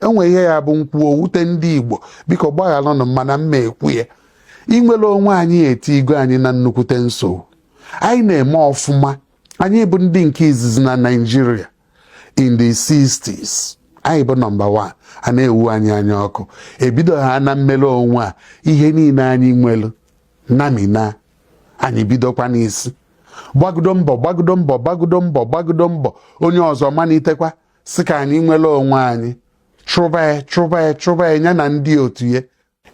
o nwee ihe ya-abụ m kwuo o wute ndị Igbo biko gbaghalụnụ mana mma ekwu ya inwere onwe anyị etiigo anyị na nnukwute nsogbu anyị na-eme ọfụma anyị bụ ndị nke izizi na Nigeria in the 60s anyị bụ number 1 a na-ewu anyị anya ọkụ e bido ha na mmere onwe a ihe niile anyị nwere namina anyị bidokwa n'isi gbagodo mbọ gbagodo mbọ gbagodo mbọ gbagodo mbọ onye ọzọ malitekwa sị ka anyị nwere onwe anyị chụba ya chụba ya chụba ya ya na ndị otu ya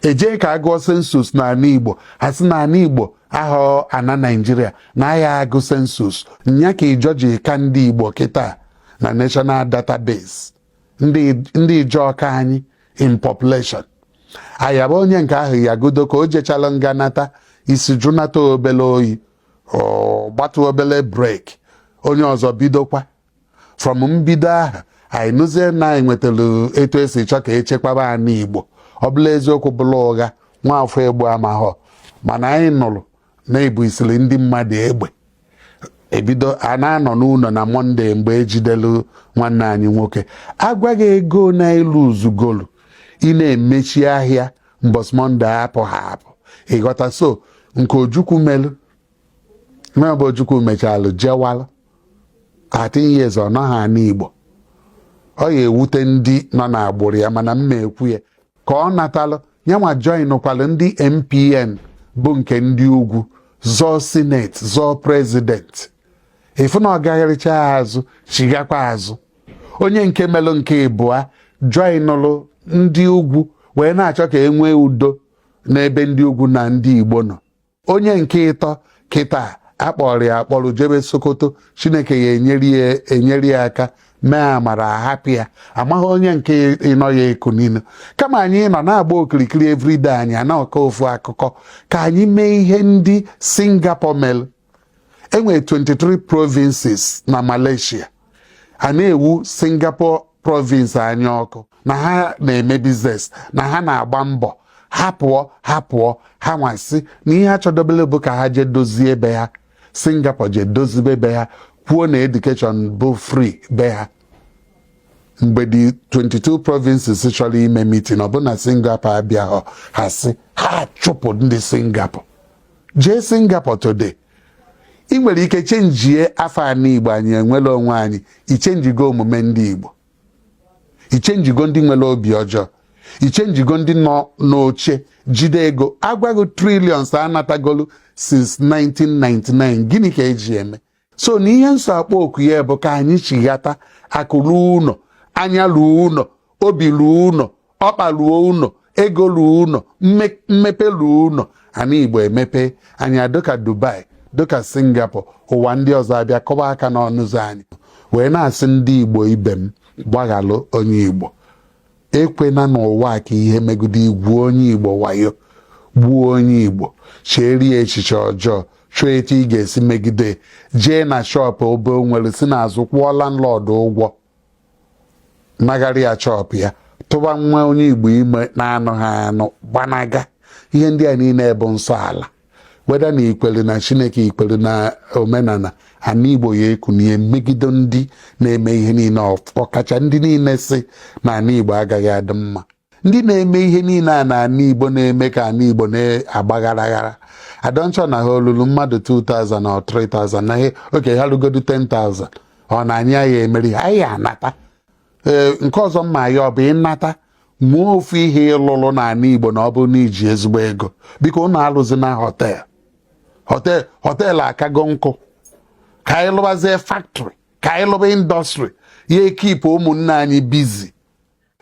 e jee ka a gụọ census n'ala Igbo ha sị na ala Igbo ahọ ana Nigeria na a ya-agụ census nya ka Ijaw ji ka ndị Igbo kịta na National Database ndị Ijaw ka anyị in population a yaba onye nke ahụ ya godo ka o jechala nga nata isi jụnata obele oyi gbatu obele break onye ọzọ bidokwa from mbido aha anyị nụzie na anyị nwetara etu e si chọọ ka e chekwaba ana Igbo ọ bụlụ eziokwu bụlụ ụgha nwaafọ Igbo amahọ mana anyị nụrụ na e busiri ndị mmadụ egbe e bido a na-anọ n'ụlọ na Monday mgbe e jidelu nwanne anyị nwoke agwaghị ego na ilu uzugolu ị na-emechi ahịa mbọsị Monday a pụha apụ ị ghọta so nke Ojukwu melu Mbụ Ojukwu mechalụ jewalụ 13 years ọ nọghị ana Igbo ọ ya-ewute ndị nọ n'agbụrụ ya mana mma ekwu ya ka ọ natalụ nyanwa joinụkwalụ ndị NPN bụ nke ndị ugwu zọọ senate zọọ president ị fụ na ọ gagharịcha azụ chighakwa azụ onye nke melụ nke ịbụa joinụlụ ndị ugwu wee na-achọ ka e nwee udo n'ebe ndị ugwu na ndị Igbo nọ onye nke ịtọ kịta a kpọrọ ya akpọrọ jebe Sokoto Chineke ya-enyere ya aka mee amara a hapụ ya amaghị onye nke ịnọ ya-ekunili kama anyị nọ na-agba okirikiri everyday anyị ana-akọ ofu akụkọ ka anyị mee ihe ndị Singapore mere e nwere 23 provinces na Malaysia a na-ewu Singapore province anya ọkụ na ha na-eme business na ha na-agba mbọ ha pụọ ha pụọ ha wee sị na ihe ha chọdobele bụ ka ha jee dozie be ha Singapore jee dozibe be ha kwuo na education bụ free be ha mgbe the 22 provinces chọrọ ime meeting ọ bụ na Singapore abịahọ ha sị ha chụpụ ndị Singapore jee Singapore today ị nwere ike chenjie afa anị igbo anyị enwere onwe anyị ichenjigo omume ndị igbo ichenjigo ndị nwere obi ọjọọ ichenjigo ndị nọ n'oche jide ego agwa gị trillions anatagolu since 1999 gịnị ka eji eme so na ihe m so akpọ oku ya bụ ka anyị chighata akụ ruo ụnọ anya ruo ụnọ obi ruo ụnọ ọkpa ruo ụnọ ego ruo ụnọ mmepe ruo ụnọ ana igbo emepe anyị adịka dubai dịka singapore ụwa ndị ọzọ abịa kọba aka n'ọnụ ụzọ anyị wee na-asị ndị igbo ibe m gbaghalụ onye igbo ekwena n'ụwa ka ihe megide igwu onye igbo wayo gbuo onye igbo cheeri ya echiche ọjọọ chọọ etu ị ga-esi megide jee na shop obe nwere si n'azụ kwụọ landlord ụgwọ nagharị ya shop ya tụba nwa onye igbo ime na anụha anụ gbanaga ihe ndị a niile bụ nsọ ala whether na ikwere na chineke ikwere na omenala ana igbo ya ekunie megide ndị na-eme ihe niile ọkacha ndị niile sị na ana igbo agaghị adị mma ndị na-eme ihe niile a na ana igbo na-eme ka ana igbo na-agba gharaghara i don't sure na ha lulu mmadụ 2000 na 3000 na ihe okay ha rugodu 10000 ọ na anyị ya emeri ha anyị anata ee nke ọzọ mma ya ọ bụ ịnata nwee ofu ihe ịlụlụ na ana igbo na ọ bụrụ na iji ezigbo ego biko ụnụ alụzi na hotel hotel hotel akago nkụ ka anyị lụbazie factory ka anyị lụba industry ya ekeep ụmụnne anyị busy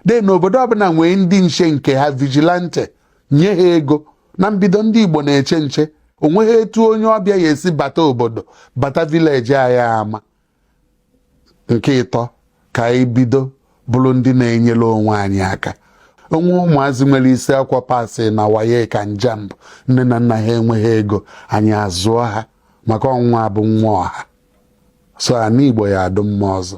then na obodo ọbụla nwee ndị nche nke ha vigilante nye ha ego na mbido ndị Igbo na-eche nche onweghị etu onye ọbịa ya esi bata obodo bata village anyị ama nke ịtọ ka anyị bido bụrụ ndị na-enyere onwe anyị aka o nwee ụmụazị nwere isi akwụkwọ pasị na waec and jamb nne na nna ha enweghị ego anyị azụọ ha maka na nwa bụ nwa ọha so ana igbo ya adụ mma ọzọ